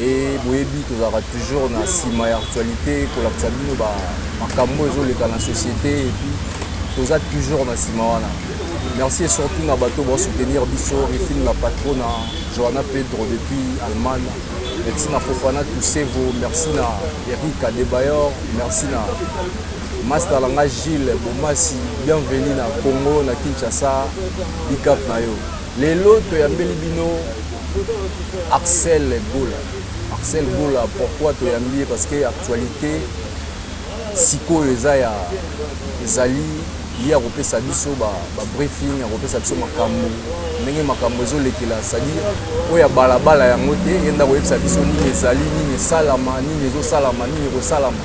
Et boyebi tozalaka toujours na sima ya actualité kolakisa bino ba makambo ezoleka na société et puis toza toujours na sima wana. Merci et surtout na bato ba soutenir biso Rifine la patrona Johanna Pedro depuis Allemagne. Merci na Fofana Tusevo, merci na Eric Adebayor, merci na Master Langa Gilles Bomasi, bienvenue na Congo na Kinshasa, big up na yo. Lelo toyambeli bino Axel Gola. Axel Gola pourquoi toyambi ye parce que actualité sikoyo eza ya ezali ye akopesa biso ba, ba briefing akopesa biso makambo ndenge makambo ezolekela sadi oyo ya balabala yango te ye nde akoyebisa biso nini ezali nini esalama nini ezosalama nini ekosalama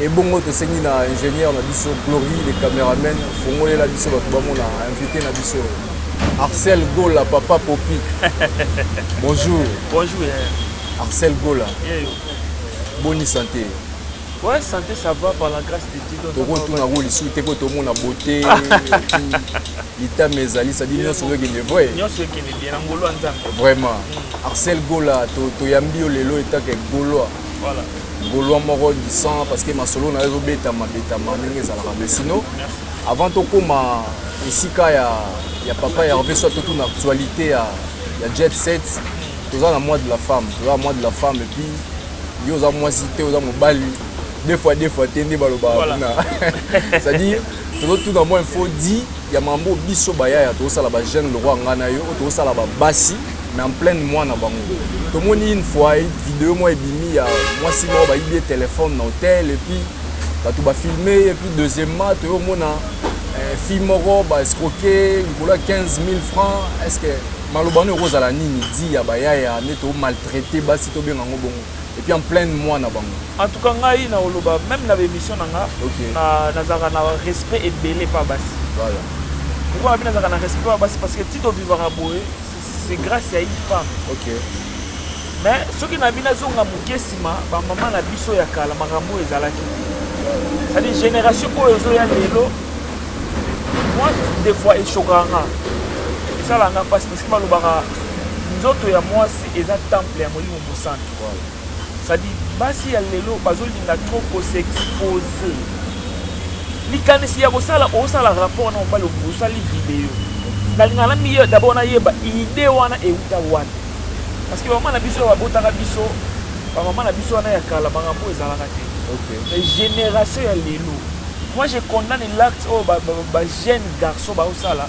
Ebongo tosengi na ingenieur na biso Glory le cameraman fongolela biso batu bamona invite na biso Arcel Gola papa Popi. Bonjour. Bonjour. Yeah. Arcel Gola. Yeah, yo. Bonne santé. Ouais, santé ça va par la grâce de Dieu. Toko tuna ko lisu te ko tomona beauté. Lita mes ali ça dit nyoso yoki ne vrai. Nyoso yoki ne bien ngolo nzambe. Vraiment. Mm. Arcel Gola to to yambi yo lelo etake golois. Voilà. Golois moko du sang parce que masolo na yo beta ma beta ma ndenge ezalaka mais sinon avant to koma esika ya ya papa Hervé soit tout une actualité ya ya jet set toza na mois de la femme toza na mois de la femme et puis yo oza mwasi te oza mobali deux fois deux fois te nde balobaka voilà. kuna c'est-à-dire tozotuna mwa info di ya mambo biso bayaya tozosala bajeune lokwa ngai na yo oyo tozosala babasi mais en pleine mwana bango tomoni une fois video moi ebimi ya mwasi moko bayibi ye telefone na hotel epuis bato bafilme ye epuis deuxièmement toyo omona eh, fille moko baescroke likolo ya 15 000 francs est ce que maloba wana ekozala nini di ya bayaya nde tomaltraite basi tobenga yango bongo et puis en pleine mois na bango. En tout cas ngai na oloba meme na ba emission na nga okay. na nazaka na respect ebele pa basi. Voilà. Pourquoi abina nazaka na respect pa basi parce que tito vivaka boye c'est grâce à une femme. Okay. Mais soki na bina zonga moke sima ba maman na biso ya kala makambo ezalaki. C'est-à-dire génération oyo zo ya lelo moi des fois echokanga esalanga mpasi parce que balobaka nzoto ya mwasi eza temple ya molimo Mosantu waouh ça dit basi ya lelo bazo linga trop ko s'exposer likanisi ya kosala osala rapport na mobali osali video nalinga na miye d'abord nayeba idee wana euta wana parce que bamama na biso babotaka biso bamama na biso wana ya kala makambo ezalaka te mais génération ya lelo moi je condamne l'acte oyo bajeune garçon baosala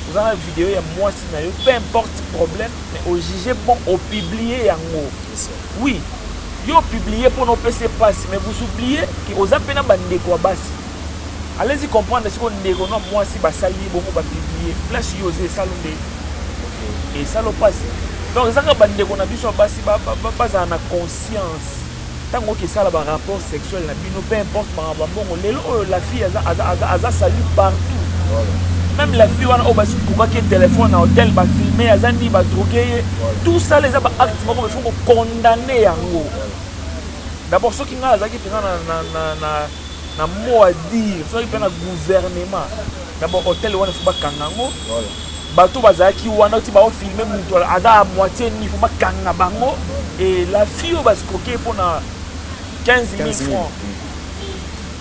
oza na video ya mwasi na yo peu importe problème Mais o juger po o publier yango. Oui yo o publier pona opesa ye pasi mais vous oubliez que oza pe na ba ndeko ya basi. Allez y comprendre sikoyo ndeko no ya muasi ba sali ye bongo ba publier place yo oza esali nde esali yo pasi. Donc eza kaka ba ndeko na biso ya basi ba zala na conscience. Tango oke sala ba rapport sexuel na bino peu importe makambo ya mbongo lelo oyo la fille aza aza aza aza salut partout meme la fille wana oyo basi kokaki ye telephone na hotel ba filme aza ni ba drogue ye tout ça eza ba acte moko il faut ko condamner yango d'abord soki ngai azalaki mpenza na na na na na mot à dire soki mpe na gouvernement d'abord hotel wana il faut bakanga yango Bato bazalaki wana oti bao filme mutu aza a moitie nini faut bakanga bango et la fille oyo ba scroquer mpo na 15000 francs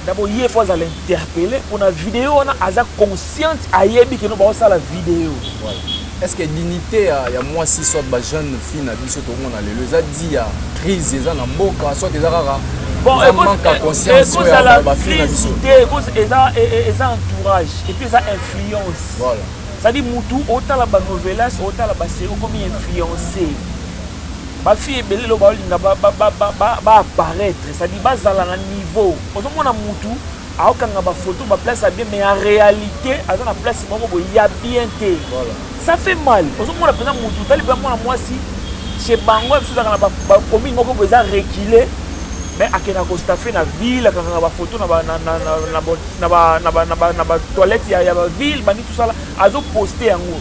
dabo ye faut azala interpelle mpo na video wana aza consciente ayebi keno baosala video voilà. est ce que dignité ya, ya mwasi soit ba jeune fille na biso tokomona lelo eza di ya crise eza na mboka soit eza kaka bon ekozala crise te eza entourage et puis eza influence Voilà. Ça dit mutu otala ba novelas otala ba série okomi influencé ba fille ebele lelo baolinga ba, ba, ba, ba, ba, ba apparaître ça dit bazala na niveau ozomona mutu aokanga ba photo ba place ya bien mais en réalité aza na place moko boye ya bien te voilà. ça fait mal ozomona mpenza mutu otali mpe mwana mwasi chez bango biso ezalaka na bakomi moko boye eza recule mais akendaka kostafe na ville akangaka bafoto na na ba na ba na ba na ba toilette ya ya ba ville bandi tout ça là azo poster yango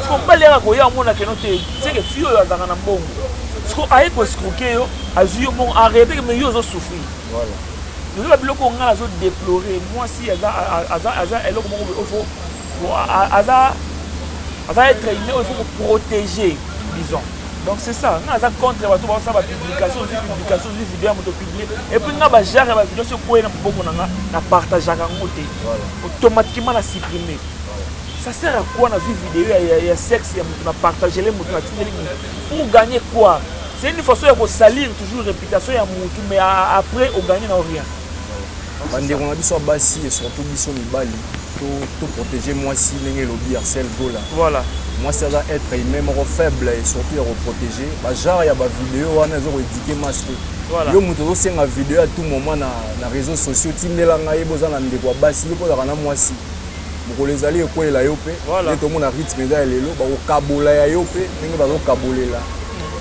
siko mbali yaka koya omona keno te seke fille oyo azalaka na mbongo siko aye ko escroquer yo azwi yo mbongo en réalité mais yo ozo souffrir eza ba biloko ngai nazo déplorer mwasi aza aza aza eloko moko ofo aza aza être humain il faut ko protéger disons donc c'est ça nga aza contre bato baosala bapublication ozwi publication ozwi video ya moto publie epuis nga bajare ya bavideo soki okwei na moboko na nga na partageaka yango te automatiquement na supprime ça sert à quoi nazwi video ya, ya, ya sexe ya moto na partagele moto natindeli moto pour gagner quoi c'est une façon ya kosalir toujours réputation ya motu mais après ogagner na rien bandeko na biso ya basi et surtout biso mibali to to protéger mwasi ndenge elobi Arcel Gola voilà mwasi aza être humain moko faible et surtout ya ko protéger ba genre ya ba vidéo wana ezo ko éduquer masse te voilà. yo moto ozosenga video à tout moment na, na réseaux sociaux tindela ngai boza na ndeko ya basi yo mpo ozalaka na mwasi mokolo ezali ekwelela yo mpe nde tomona rythme eza ya lelo bakokabola ya yo mpe ndenge bazokabolela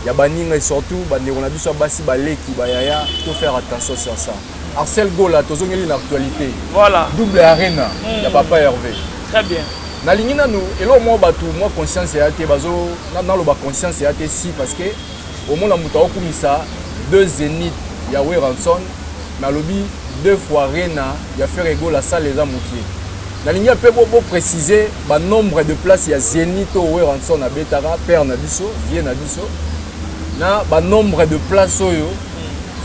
ya baninga et surtout bandeko na biso ya basi baleki bayaya to faire attention sur ça arcel gola tozongeli na actualité voilà. double arena mm. ya papa herve très bien nalingi nanu eloko moko bato mwa conscience eya te bazo naloba conscience eya te si parce que Omona mutu ako kumisa deux zenith ya werrason mais alobi deux fois arena ya ferre gola salle eza mukie nalingi un peu bo bo precise ba nombre de place ya zenith oyo werrason abetaka père na biso vieux na biso na ba nombre de place oyo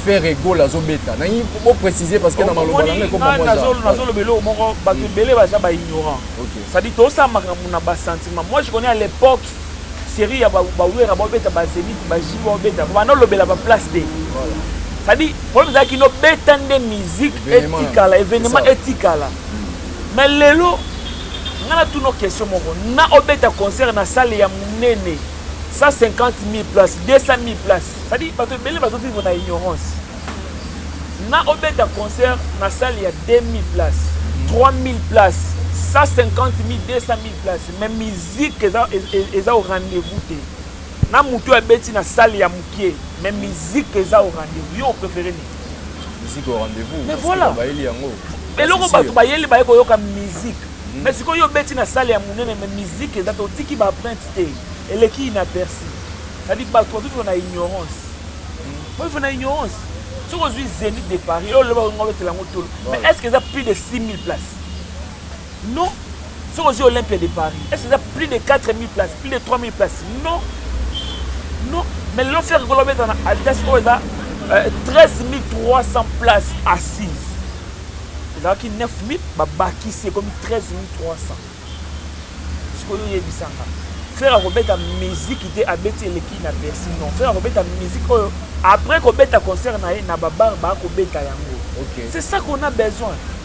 ferre gola azo beta nalingi bo precise parce que na maloba na ngai ko ba mwana nazo loba eloko moko bato ebele baza ba ignorant okay. ça dit to sa makambo na ba sentiment moi je connais à l'époque serie ya ba werra ba beta ba zenith ba jibo ba beta ba no lobela ba place te ça dit problème za kino beta nde musique etikala événement etikala mais lelo nga na tuno question moko na obeta concert na salle ya munene 150 000 places 200 000 places ça dit bato ebele bazo vivre na ignorance na obeta concert na salle ya 2000 places 3000 places 150 000 200 000 places mais Musique eza eza au rendez vous te na mutu abeti na salle ya mukie mais musique eza au rendez vous yo prefere nini musique au rendez vous mais voilà bayeli yango eloko bato bayeli baye koyoka musique hmm. mais sikoyo obeti na salle ya monene mais musique eza te otiki ba printe te eleki inaperci cetadi bato bazofa na ignorance hmm. oyofa na ignorance soki ozwi zenit de paris olobaka ngo obetela yango tolo mais est ce que eza plus de 6000 place Non soki ozwi Olympia de Paris est-ce eza plus de 4000 places plus de 3000 places non non mais lelo Ferre Gola obeta na Adidas oyo eza 13300 euh, places assises ezalaki 9000 babakisi ekomi 13300 sikoyo oyebisanga Ferre akobeta miziki te abeti eleki na Bercy non Ferre akobeta miziki oyo après kobeta concert na ye na babar bakobeta yango okay. c'est ça qu'on a besoin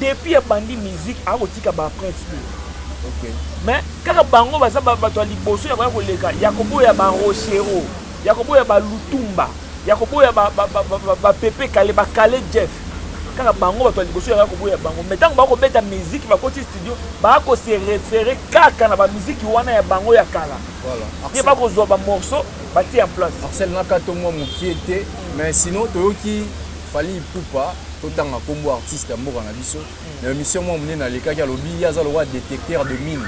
Depuis abandi musique ako tika ba empruntes te. Okay. Mais kaka bango baza bato ya liboso ya koya koleka ya koboya ba Rochero, ya koboya ba Lutumba, ya koboya ba ba ba ba, ba Pepe Kale, ba Kale Jeff. Kaka bango bato ya liboso ya koboya bango. Mais tango bako beta musique bakoti studio, bako se référer kaka na ba musique wana ya bango ya kala. Voilà. Ye bako zwa ba morceaux batie en place. Arsène Nakato mwa mokie te, mais sinon toyoki Fally Ipupa totanga kombo artiste ya mboka na biso na emission mwa monene alekaki alobi ye aza lokola detecteur de mine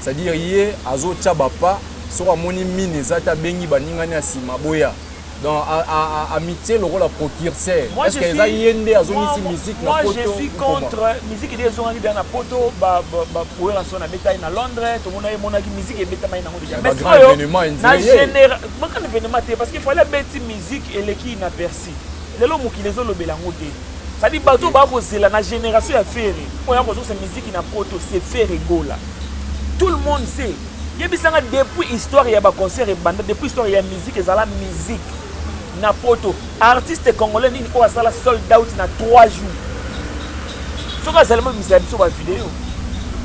c'est à dire ye azotia bapa soko amoni mine eza te abengi baningani ya nsima boya donc amitie lokola procurseur est ce que eza ye nde azongisi musique na poto je suis contre musique nde ezongaki deja na poto bapoela so nabetaki na londres tomona emonaki musique ebetamaki nango deja mais sikoyo na général makana événement te parce que fallait abeti musique eleki inaperçu Merci. Lelo mokili ezo lobela yango te. Ça dit bato ba ko zela na generation ya Ferre. Oyo ya ko zo se musique na poto c'est Ferre Gola. Tout le monde sait. Yebisa nga depuis histoire ya ba concert ebanda depuis histoire ya musique ezala musique na poto artiste congolais nini oyo asala sold out na 3 jours soki azali mobimisela biso bavideo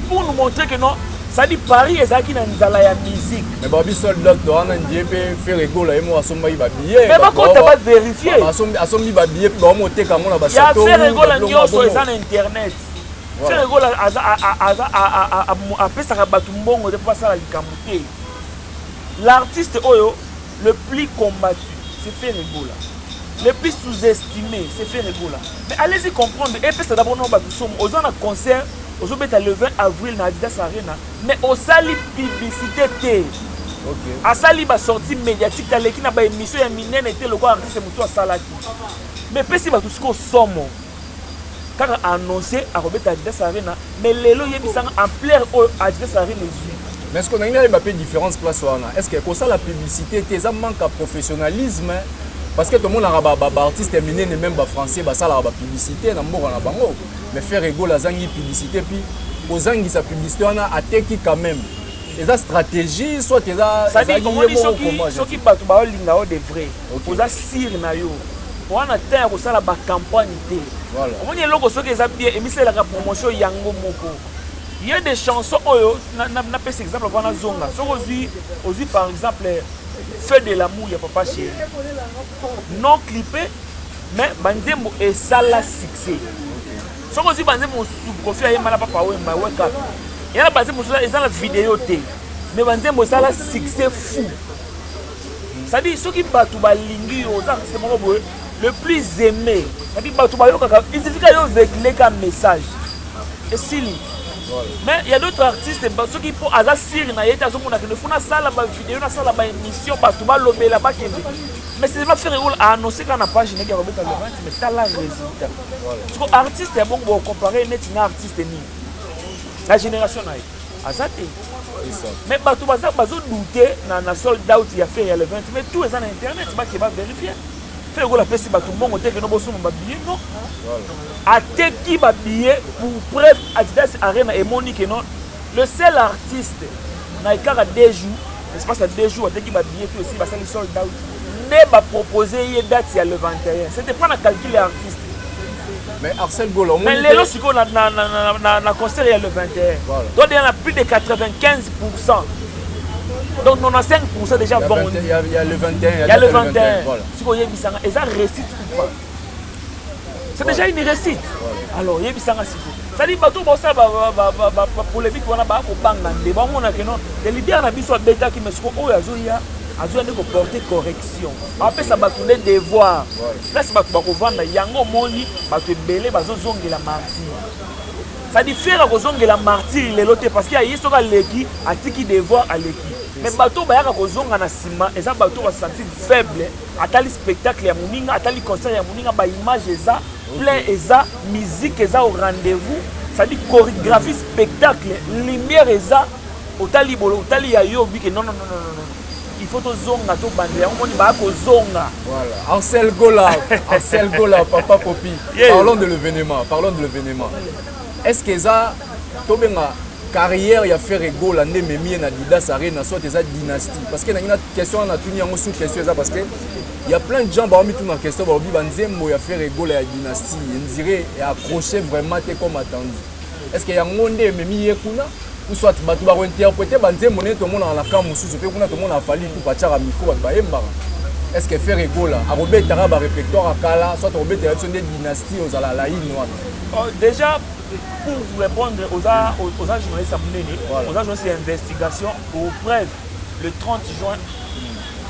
pour nous montrer que non sadi paris ezalaki na nzala ya musique mais ba biso docteur wana ndie mpe fere gola ye moko asombaki babillet mais bakota baverifie asombi babillet mpe baomoteka yango na bachateau ya fere gola nyonso eza na internet fere gola apesaka bato mbongo te mpo basala likambo te l'artiste oyo Le plus combattu c'est Ferre Gola. Le plus sous-estimé c'est Ferre Gola. Mais allez-y comprendre et pesa d'abord non ba bisomo oza na concert ozo beta le 20 avril na Adidas Arena mais osali publicité te. Okay. Asali ba sortie médiatique aleki na ba émission ya minene te lokola artiste mosusu asalaki. Mais pesi bato sikoyo somo. Kaka a annoncer ako beta Adidas Arena mais lelo yebisa nga ampleur oyo Adidas Arena ezui. Mais ce que nalingi nayeba pe difference place wana est-ce que kosala publicite te eza manque ya professionnalisme parce que tomonaka ba ba artistes ya minene même ba français basalaka ba publicite na mboka na bango mais Ferre Gola azangi publicite puis kozangisa publicite wana ateki quand même eza stratégie soit eza ezalaki ye moko soki bato baolinga yo de vrai oza sire na yo wana temps ya kosala bacampagne te omoni eloko soki eza bien emisalelaka promotion yango moko ye de chanson oyo napesa exemple mpona nazonga soki ozwi ozwi par exemple feu de lamour ya papa chéri non clipe mais banzembo esala succès soki ozwi banzembo mosusu kofi ayemba na papa wemba weka yana banzembo mosusu eza na video te mais banzembo esala succès fou sadi soki bato balingi yo oza artiste moko boye le plus aimé sadi bato bayokaka isifika yo vegleka message esili mais ya d'autres artistes soki mpo aza sire na ye te azomona kende fo nasala bavideo nasala baémission bato balobela bakende mais c'est pas faire role aannonce kaka na page neke ya kobeta le rente mais tala résultat siko artiste ya bongo bokocompare neti na artiste nini na génération na ye aza te mais bato baza bazo doute na, na sold out ya fer ya le 20 mais tout eza na internet bake ba verifie fe lokola apesi bato mbongo te keno bosomba babillet non ateki babillet pour preuve adidas arena emoni keno le seul artiste na ekaka deux jours espace ya deux jours ateki babillet to esi basali sold out nde bapropose ye date ya le 21 c'était pas na calcul ya artiste Mais Arsène Gola, mais lelo siko na na na na na concert ya le 21. Voilà. Toi déjà na plus de 95%. Donc 95% déjà bon. Il y, a, il y a le 21, il y a le 21. 21 voilà. Siko yebisa nga eza réussite ou pas C'est déjà une réussite. Voilà. Alors yebisa nga siko. Sali bato bosala bapolémique wana bakobanga nde bamona keno te leader na biso abetaki mais siko oyo azoya azoya nde koporte correction apesa bato nde devoir place bato bakovanda yango omoni bato ebele bazozongela martire sadi fere akozongela martire lelo te parce que aye soki aleki atiki devoir aleki me bato oyo bayaka kozonga na nsima eza bato oyo basanti faible atali spectacle ya moninga atali concert ya moninga baimage eza plein eza musique eza au rendez-vous sadi chorégraphie spectacle lumière eza otali bolo otali ya yo obike non non non non il faut tozonga tobanda yango moni baya kozonga ansel gola ansel gola papa popi parlons de l'événement parlons de l'événement est ce que eza tobenga carrière ya ferre gola nde ememi ye na didas arena soit eza dynastie parce que nangi na question wana natuni yango sous question eza parce que ya plein de gens baomituna question baobi banzembo ya ferre gola ya dynastie endire accroche vraiment te comme attendu est ce que yango nde ememi ye kuna ou soit bato bakointerprete banzembo ndenge tomonaka na camp mosusu mpe kuna tomona afali tu batiaka micro bato bayembaka est ce que ferre egola akobetaka barépertoire ya kala soit akobetela biso nde dynastie ozala laine wana oh, déjà pour vous répondre oza, oza journaliste ya monene voilà. oza journaliste ya investigation au preuve le 30 juin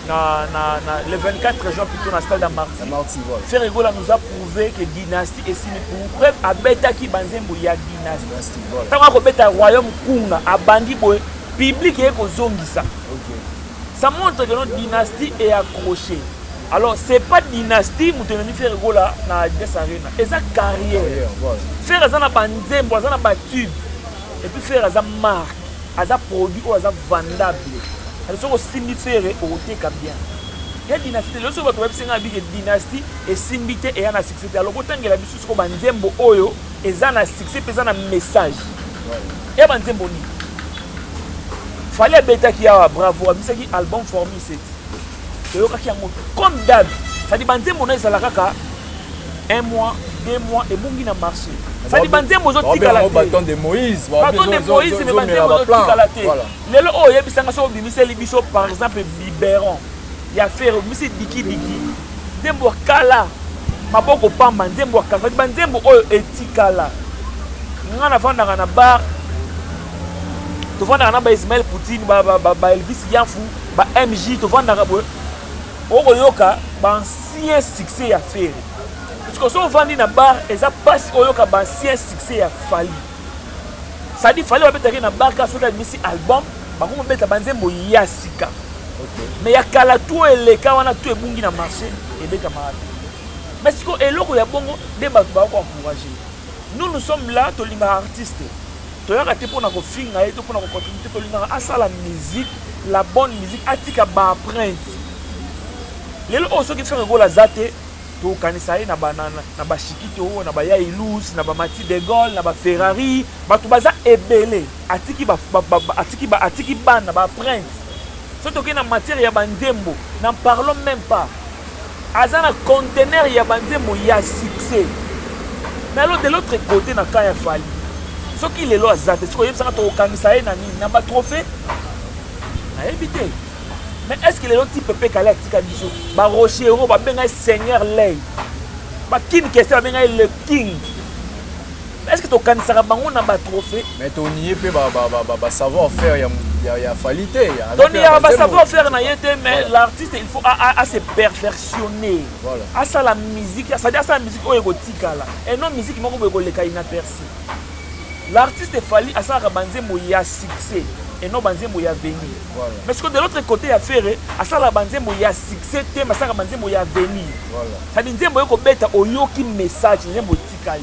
na, na, na, le 24 juin plutôt na stade ya marti ferre egola nous a prouvé que dynastie esili pour preuve abetaki banzembo ya dynastie ntango akobeta royaume kunga abandi boye publike ye kozongisa ça montre que notre dynastie est accrochée alors c'est pas dynastie moto ememi fere gola na adidas arena eza carrière fere aza na banzembo aza na batube epuis fere aza marque aza produit oyo aza vandable alo soki osimbi fere okoteka bien ya dynastie lelo soki bato bayebisi ngai bike dynastie esimbi te eya na C'était alors botangela biso siko ba nzembo oyo eza na succès pe eza na message ya ba nzembo nini fali abetaki awa bravo abisaki album formi seti toyokaki yango comme dab sadi ba nzembo na ezala kaka un mois deux mois ebongi na marché sadi ba nzembo ozotikala te baton de moïse me ba nzembo ozotikala te lelo oyo oyebisanga soki obimiseli biso par exemple biberon ya fere obimisi dikidiki Nzembo ya kala maboko pamba nzembo ya kala ba nzembo oyo etikala nga nafandaka na bar tofandaka na ba Ismaël Poutine ba, ba, ba, ba Elvis Yanfu ba MJ tofandaka boye okoyoka ba ancien succès ya Ferre parce que so ovandi na bar eza pasi oyoka ba ancien succès ya Fally sadi Fally babetaki na bar ka soki abimisi album Bango bobeta ba nzembo ya sika. Okay. Mais ya kala tout eleka wana tout ebungi na marché ebeta maana. Mais siko eloko ya bongo nde bato ba ko encourager. Nous nous sommes là tolingaka artiste. Toyaka te pona ko finga ye to pona ko contribuer tolingaka asala musique la bonne musique atika ba emprunte. Lelo oyo soki frère Gola zate tokanisa ye na banana na bashikito na bayailus na bamati de gaulle na baferrari bato baza ebele Atiki ba, ba, ba, ba, atiki, ba, atiki bana ba prince. Soki tokei na matière ya banzembo, n'en parlons même pas. Aza na conteneur ya banzembo ya succès. Mais alors de l'autre côté na camp ya Fally, soki lelo aza te, soki oyebisaka tokokangisa ye na nini, na ba trophée nayebi te. Mais est-ce que lelo type pe kale atika biso ba Rochero babenga ye Seigneur Lay, ba Kin Kester babenga ye le King. Est-ce que tokanisaka bango na ba trophées? Mais to nie pe ba ba ba ba savoir faire ya ya ya Fally te. To nie ba savoir faire na ye te mais l'artiste il faut a a se perfectionner. Voilà. A ça la musique, ça dit ça la musique oyo ekotikala. Et non musique moko boye koleka inaperçu. L'artiste Fally asalaka banzembo ya succès et non banzembo ya venir. Voilà. Mais ce que de l'autre côté ya Ferre asala banzembo ya succès te, mais asala banzembo ya venir. Voilà. Ça dit nzembo yoko beta oyoki message nzembo tikali.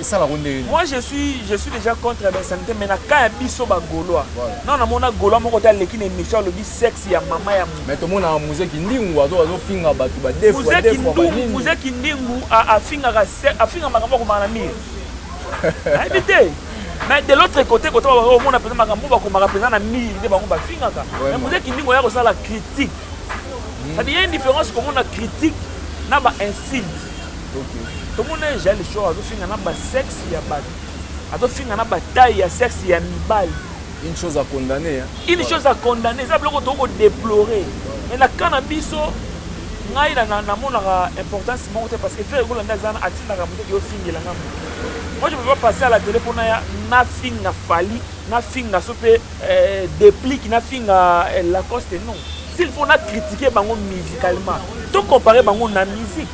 esalako ndenge moi je suis je suis déjà contre basanité mais na cas ya biso bagolois non namona golois moko te aleki na émission alobi sexe ya mama ya mais tomonaka muze kindingu azofinga bato bademuze kindingu afingaka afinga makambo akomaka na mire ayebi te mais de l'autre côté kote omona mpenza makambo bakomaka mpenza na mire nde bango bafingaka mais muze kindingu oya kosala critique cest ya indifférence komona critique na ba insulte tomona ye jali shor azofinga na basexe ya bato azofinga na bataille ya sexe ya mibali une chose à condamner une chose à condamner eza biloko toki kodeplore mais na cas na biso ngai namonaka importance moko te parce que frère ekolanda eza na atindaka moto eke ofingela nga moto moi je peux pas passer à la télé mpo naya nafinga fali nafinga so mpe Eh, deplic na finga eh, Lacoste non. S'il faut na critiquer bango musicalement, to comparer bango na musique.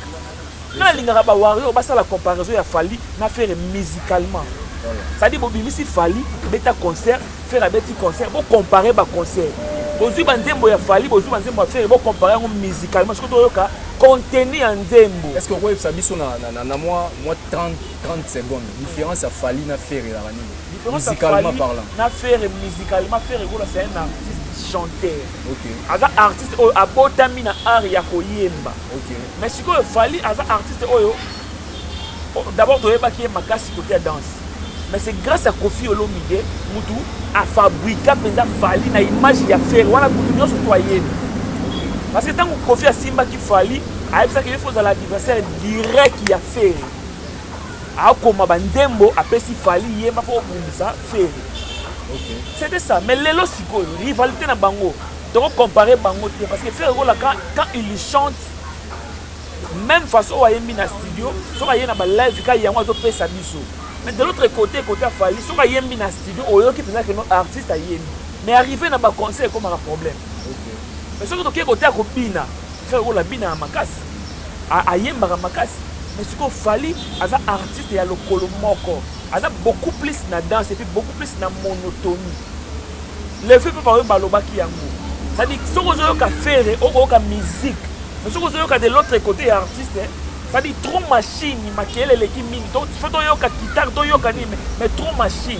Nga nalingaka ba warrior basala comparaison ya Fally na Ferre musicalement. cest à bobimisi fali beta concert fere abeti concert bocompare baconcert bozwi banzembo ya fali bozwi banzembo ya fere bocompare yango musicalement soki toyoka contenu ya nzembo est ce que okoyebisa biso na mwa 30 30 secondes difference ya Fally na Ferre ezalaka nini? Musicalement parlant. Na Ferre musicalement Ferre Gola c'est un artiste chanteur. OK. Aza artiste oyo abotami na art ya koyemba. OK. Mais sikoyo Fally aza artiste oyo d'abord toyebaki ye makasi côté ya danse. Mais c'est grâce à Kofi Olomide mutu afabrika mpenza Fally na image ya Ferre wana mutu nyonso to ayebi. Parce que ntango Kofi asimbaki Fally ayebisaki ye faut ozala adversaire direct ya Ferre. akoma ba nzembo apesi Fally yemba po obundisa Ferre. Okay. C'était ça mais lelo sikoyo rivalité na bango toko comparer bango te parce que Ferre Gola quand, quand il chante même façon oyo ayembi na studio soki aye na balive ka yango azopesa biso mais de l'autre côté côté afali soki ayembi na studio oyoki mpenza keno artiste ayembi mais arrivé na baconcert ekomaka problème mais soki tokei kote ya kobina Ferre gola abinaka makasi, ayembaka makasi mais sikoyo Fally aza artiste ya lokolo moko, aza beaucoup plus na danse et puis beaucoup plus na monotonie. Le fait pe baoyo balobaki yango, c'est-à-dire soki ozoyoka Ferre okoyoka musique mais soki ozoyoka de l'autre côté ya artiste c'est-à-dire trop machine, makelele eleki mingi, faut toyoka guitare, toyoka nini mais trop machine.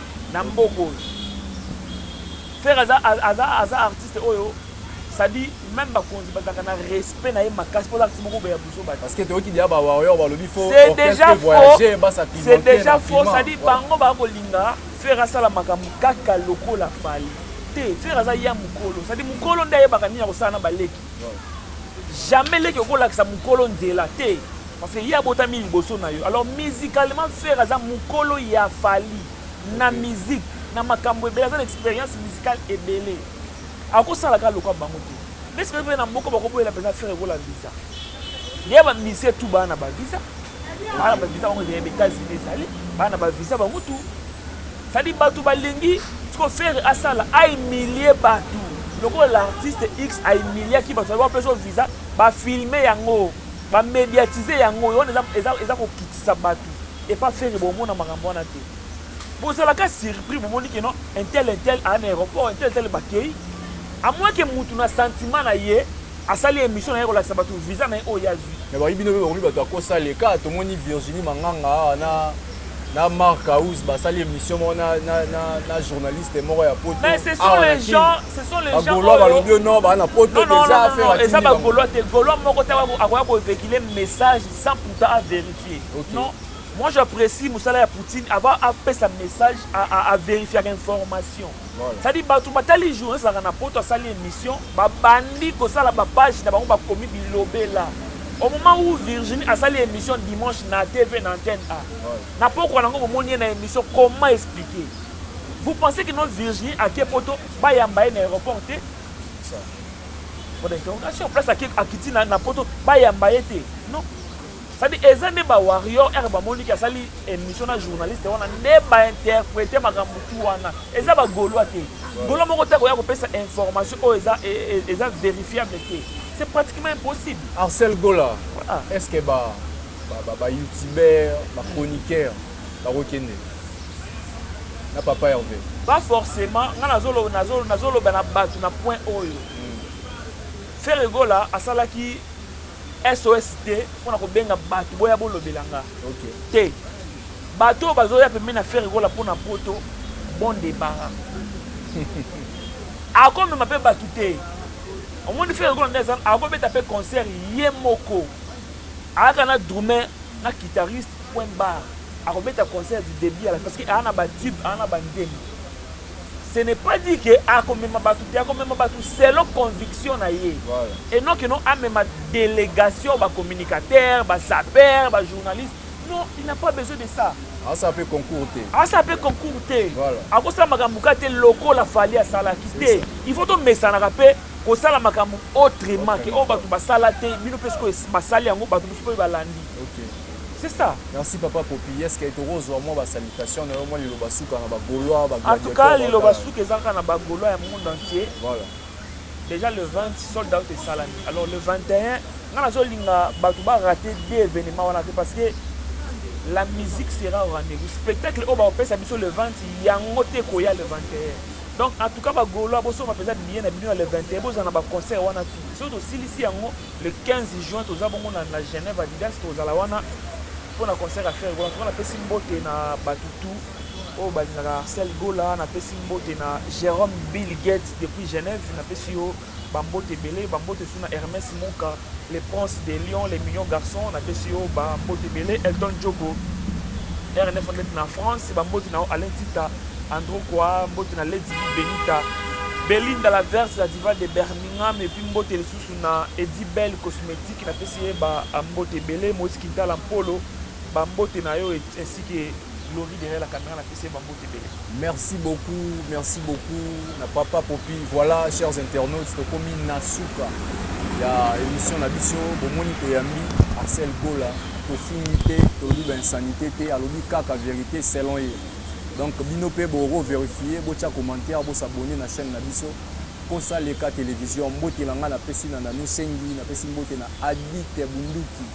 na mboka oyo Ferre aza, aza, aza artiste oyo sadi même bakonzi bazalaka na respect na ye makasi mpo azalaka moko boya buzo bato parce que toyoki dia bawarrior balobi fo c'est déjà faux c'est déjà faux sadi bango baya kolinga Ferre asala makambo kaka lokola fali te Ferre aza ya mokolo sadi mokolo nde ayebaka nini akosala na baleki Jamais leki okolakisa mukolo nzela te parce que ye abotami liboso na yo alors musicalement ferre aza mukolo ya fally na musique na makambo ebele aza na experience musicale ebele akosala kaka lokwa bango te mais soki mpe na mboka bakoboyela mpenza ferre ekola visa ye bamisi etu baa na bavisa baa na bavisa bango ezali ya etats-unis ezali baa na bavisa bango tu Ça dit batu balingi sikoyo ferre asala a humilie batu lokola l'artiste X a humiliaki batu ba peso visa ba filme yango ba mediatise yango yo wana eza eza kokitisa batu epa ferre bomona makambo wana te bozalaka surpris bomoni ke non un tel un tel a na aéroport un tel tel bakei à moins que mutu na sentiment na ye asali émission na ye kolakisa batu visa na ye oyo azwi mais bayi bino mpe bakomi bato akosa leka tomoni virginie manganga awa na na Marc House basali émission moko na, na, na, na journaliste moko ya poto mais ce sont les gens ce sont les gens bagolois balobi yo non baa na poto eza affaire atindi eza bagolois te golois moko te akoya kovéhicule message sans pourtant a vérifier okay. non moi j'apprécie mosala ya poutine avant apesa message avérifiaka information Ça dit batu batali journaliste laka na poto asali emission ba bandi ko sala ba page na bango ba komi bilobela au moment où Virginie asali emission dimanche na TV na antenne A na pokwa nango bomoni ye na emission comment expliquer vous pensez que non Virginie ake poto bayamba ye na aéroport te point d'interrogation place akiti na poto bayamba ye te non Sadi eza nde ba warrior ere bamoni ki asali emission na journaliste wana nde ba interprete makambo tu wana eza ba golois te golois moko te akoya kopesa information oyo eza, e, e, eza verifiable te c'est pratiquement impossible Arcel Gola ah. est ce que ba ba ba, ba youtubeur ba chroniqueur bakokende na papa Hervé ba forcément nga nazolo nazolo nazoloba na bato na point oyo mm. Ferre Gola asalaki SOS te pona kobenga batu boya bolobela nga okay. te batu oyo bazoya pembeni na fere kola pona poto bon debara akomema mpe batu te omoni fere kola nde akobeta mpe concert ye moko ayaka na drume na guitariste point bar akobeta concert du début à la parce que aa na batube aa na banzembo ce n'est pas dit que akomema bato te akomema bato selon conviction na ye et non que non amema délégation bacommunicateur basaper bajournaliste non il n'a pas besoin de ça asala mpe concours te asala mpe concours te akosala makambo ka te lokola fali asalaki te il faut tomesanaka mpe kosala makambo autrement ke oyo bato basala te bino mpe sikoyo basali yango bato mosusu mpe balandi Ok. C'est ça. Merci papa popi est ce que toko zua mwa ba salutation na yo mwa liloba suka na ba golois ba En tout cas liloba suka eza kaka na ba golois ya monde entier. Voilà. Déjà le 20 sold out esalami. Alors le 21 nga nazo linga bato ba rater deux événements wana te parce que la musique sera au rendez-vous. Spectacle oyo bakopesa biso le 20 yango te koya le 21. donc en tout cas bagolois bosomba mpenza billet na bino ya le 21 bozala na baconcert wana tout soki tosilisi yango Le 15 juin toza bongo na na Genève Adidas tokozala wana pona concert ya Ferre Gola. En tout cas napesi mbote na batu tout oyo balingaka Arcel Gola, napesi mbote na Jerome Bill Gates depuis Genève, napesi yo ba mbote ebele, ba mbote sous na Hermès Muka, le prince de Lyon, les millions garçons, napesi yo ba mbote ebele, Elton Djoko, RNF Net na France, ba mbote na yo Alain Tita, Andro Kwa, mbote na Lady Benita, Belinda la verse la diva de Birmingham et puis mbote lisusu Lisusu na Eddy Belle Cosmetique na pesi ye ba mbote ebele, Moise Kintala Mpolo ba mbote na yo et ainsi que Glory derrière la camera na pesi ye ba mbote ebele. Merci beaucoup, merci beaucoup na papa popi. Voilà chers internautes tokomi na suka ya emission na biso bomoni toyambi Marcel Gola tofingi te tolobi ba insanite te alobi kaka verite selon ye donc bino pe boko verifier botia commentaire bo s'abonner na chaîne na biso Posa Leka Television Mbote na ngai na pesi na Nanou Sengi na pesi mbote na Adite Bunduki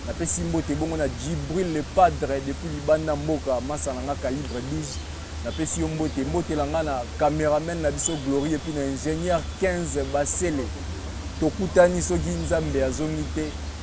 na pesi mbote bongo na Djibril le Padre depuis libanda mboka masta na ngai Calibre 12 na pesi yo mbote mbote na ngai na cameraman na biso Glorie puis na ingenieur 15 Basele tokutani soki Nzambe azongi te